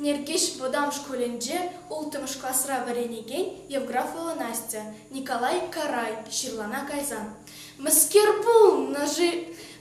Нӗркеҫ вӑтам шкулӗнче улттӑмӗш класра вӗренекен Евграфова Настя Николай Карай ҫырлана кайсан «Мӗскер пулнӑ-ши?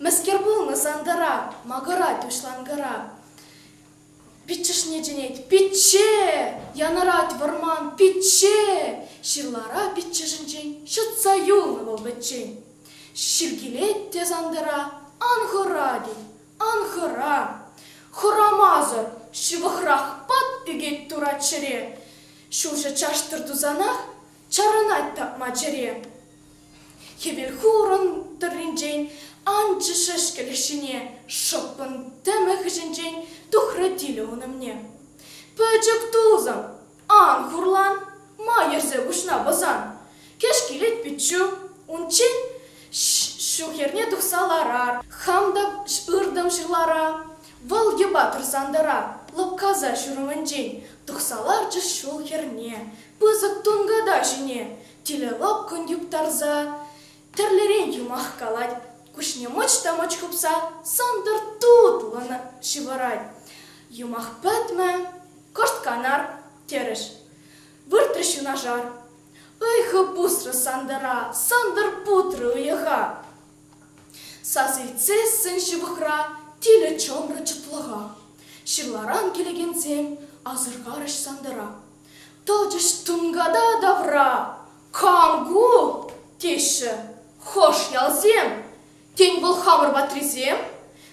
Мӗскер пулнӑ Сантӑра? Макӑрать уҫланкӑра!» Пиччӗшне чӗнет, пичче! Янӑрать вӑрман, пичче! Ҫырлара пиччӗшӗнчен ҫӑтса юлнӑ вӑл пӗччен. Ҫиркилет те сантӑра, ан хӑра, тет, ан хӑра. Хӑрамасӑр ҫывӑхрах пат ӳкет турат ҫӗре. Ҫулҫӑ чаштӑр тусанах Чарӑнать тапма чӗре. Хӗвел хурӑн тӑрринчен анчӗ шӗшкӗлӗх ҫине, шӑппӑн тӗмӗ хыҫӗнчен тухрӗ тилӗ ун умне. Пӗчӗк тусӑм, ан хурлан, ма йӗрсе куҫна пӑсан? Кӗҫ килет пиччӳ, унччен ҫу хӗрне тухса ларар, хам та ыртӑм ҫырлара, вӑл йӑпа тӑрсан тӑра, лӑпкаса ҫурӑмӗнчен тухса ларчӗ ҫул хӗрне, Пысӑк тунката ҫине телелӑккӑн юптарса тӗрлӗрен юмах калать, куҫне мӑч та мӑч хыпса сантӑр тутлӑн ҫывӑрать. Юмах пӗтмӗ, кӑшт канар, терӗҫ. Выртрӗҫ юнашар. Ыйхӑ пусрӗ Сантӑра, Сантӑр путрӗ уйӑха. Сас илтсессӗн ҫывӑхра тилӗ чӑмрӗ чӑтлӑха. Ҫырларан килекенсем асӑрхарӗҫ Сантӑра. Тӑчӗҫ тунката тавра. Кам ку? теҫҫӗ. Хӑш ялсем? Тен, вӑл хамӑр ватрисем?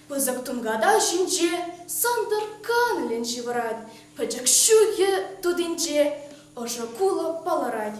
Пысӑк тунката ҫинче Сантӑр канлӗн ҫывӑрать, пӗчӗк ҫӳхе тутинче ӑшӑ кулӑ палӑрать.